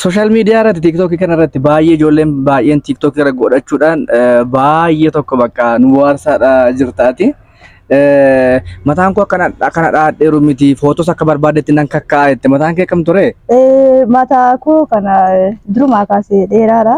Sooshaal miidiyaa irratti tiiktookii kana irratti baay'ee ijoolleen baay'een tiiktookii irra godhachuudhaan baay'ee tokko bakka nu bohaarsaadha jirtaati. Mataan koo akkana akkana dhaadheeru miti footos akka barbaadetti nan kakkaa'a jette mataan kee kam ture? Mataa koo kana durumaa kaasee dheeraadha.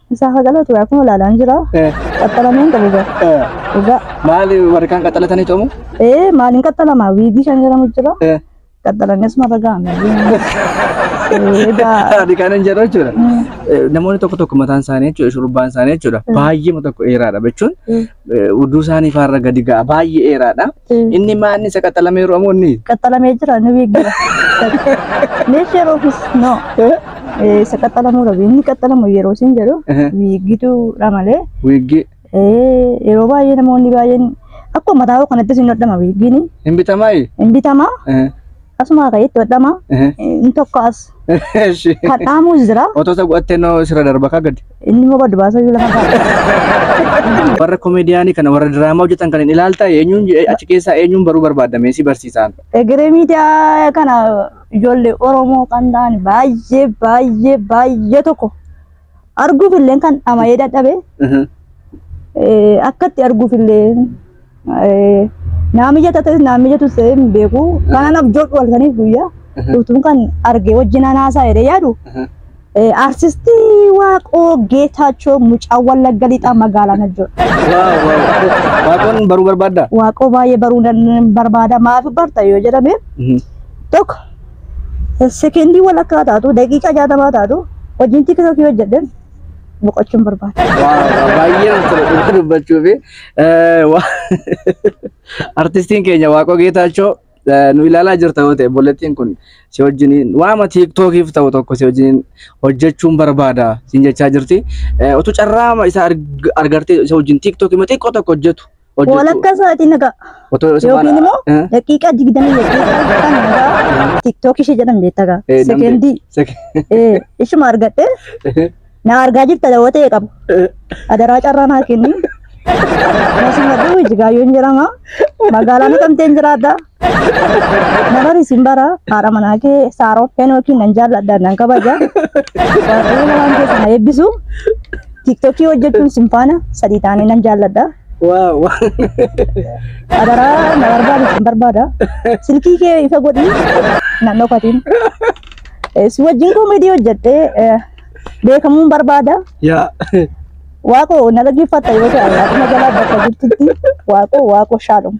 Isaa haqaloo ture akkuma ilaalaan jira. Eh, Qaxxalamee hin qabu gara. eh. Dhugaa. Maali warri kaan qaxxalatanii coomu? Ee maaliin qaxxalama wiigii shan jedhamu jira. Eh. Qaxxalamee asuma irra ga'ame. Egaa Ani kan hin jedhu jechuudha. Eh, Namoonni tokko tokko mataan isaanii jechuudha, shurrubbaan isaanii jechuudha. Baay'eema tokko dheeraadha jechuun eh, uduu isaanii faarra gadi ga'a baay'ee dheeraadha. Eh. Inni maa inni isa qaxalamee yeroo ammoo inni qaxalamee jira ni beekira leeshee roofis no Eh, isa qaxalamuu dhabe inni qaxalamu yeroo isin jedhu Eh. wiiggituudha malee wiiggii eh, yeroo baay'ee namoonni baay'een akkuma mataa kanattis hin hodhama wiiggiin hin bitamaayi? hin bitamaa Eh, Asumaa ka'ee itti hodhama. Ehe. Inni tokko as Eshi. kan dhaamuus jira. Otoo isa godhattee noo sirra darba kaa gadi. Inni immoo gadi baasuu iyyuu lafa kaa'e. Warra komeediyaanii kana warra diraamaa hojjetan kan hin ilaaltaa eenyuun je- achi keessaa eenyuun baruu barbaadda meesii barsiisaan. Egeree miidiyaa kana ijoollee Oromoo kan ta'an baay'ee baay'ee baay'ee tokko arguuf illee kan dhama'ee dadhabe Mhm. eh, akkatti arguuf illee eh, naa mijata ta'es naa mijatu ta'e hin beeku kanan abjoodhu halkaniif guyyaa utuun kan argee wajjin anaasaa jedhee yaadu Mhm. eh, artistii waaqoo geetaachoo mucaa wallagga lixaa magaalaa najjoo Waaw, waaw. Waaqoon baruu barbaaddaa? waaqoo baay'ee baruu nan barbaada maaf barta yoo jedhame Mhm. tokko sekendii walakkaa taatu daqiiqaa jaatamaa taatu hojiin tiktookii hojjedhen boqochuun barbaada. Baay'ee namatti tola dhugaa dubbachuu fi artistiin keenya Waaqoo Geetaachoo nu ilaalaa jirta yoo ta'e obboleettiin kun si wajjiniin waama tiiktookiif ta'u tokko si wajjiniin hojjechuun barbaada siin jechaa jirti. Utuu carraama isa argartee isa wajjin tiiktookii xiqqoo tokko hojjetu Hojjechuu. Walakkaa sa'aatii nagaa. Otoo isa Yookiin baana- immoo Eh, daqiiqaa digdamii daqiiqaa kan nagaa tiktookii ishee jedhan beektaa gaa. eh, namni- Sekendii. sek- Eh, ishuma argadhee na argaa jirta dawoo ta'e qabu. Adaraa carraa naa kenni. Nasimadhu Ijigaayoon jedhama. Magaalaa Naqamteen jiraadha. Nabar isin bara haadha manaa kee saaroo feenookiin nan jaalladha nan kabaja. Waaqayyo waan keessa na eebbisu. Tiktokii hojjechuun isin faana sadii taanee nan jaalladha. Waaw. Adaraa na barbaadu isin barbaada. Silkii kee ifa godhi nan dhokatiin. Eh, Si wajjin koomedii hojjedhee eh, beekamuun barbaada. Yaa. Waaqoo na dhaggeeffatta yoo ta'e akkuma jalaa bakka jirtutti waaqoo waaqoo shaadhuma.